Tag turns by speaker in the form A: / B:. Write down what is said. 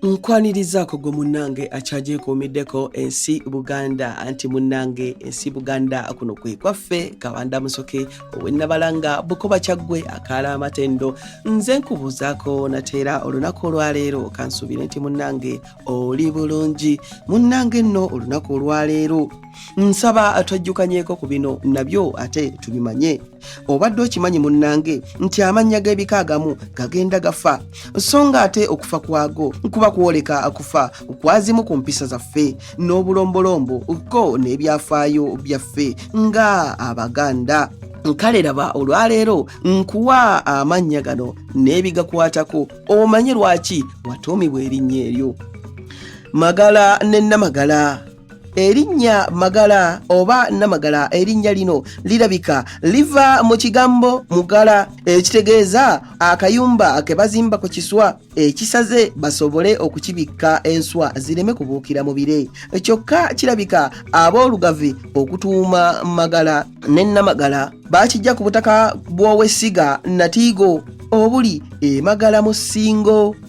A: nkwanirizaako gwe munnange akyagyekuumiddeko ensi buganda anti munnange ensi buganda kuno kwe kwaffe kabanda musoke owennabalanga bukoba kyaggwe akaala amatendo nze nkubuuzaako nateera olunaku olwaleero kansuubire nti munnange oli bulungi munnange nno olunaku olwaleero nsaba twajjukanyeko ku bino nabyo ate tubimanye obadde okimanyi munnange nti amannya g'ebika agamu gagenda gafa so nga ate okufa kwago kuba kwoleka akufa kwazimu ku mpisa zaffe n'obulombolombo ko n'ebyafaayo byaffe nga abaganda kale laba olwaleero nkuwa amannya gano n'ebigakwatako omanye lwaki watuumibwa erinnya eryo magala ne namagala erinnya magala oba namagala erinnya lino lirabika liva mu kigambo mugala ekitegeeza akayumba ke bazimba ku kiswa ekisaze basobole okukibikka enswa zireme kubuukira mu bire kyokka kirabika ab'olugavi okutuuma magala ne namagala bakijja ku butaka bw'owessiga natiigo obuli emagala mu ssingo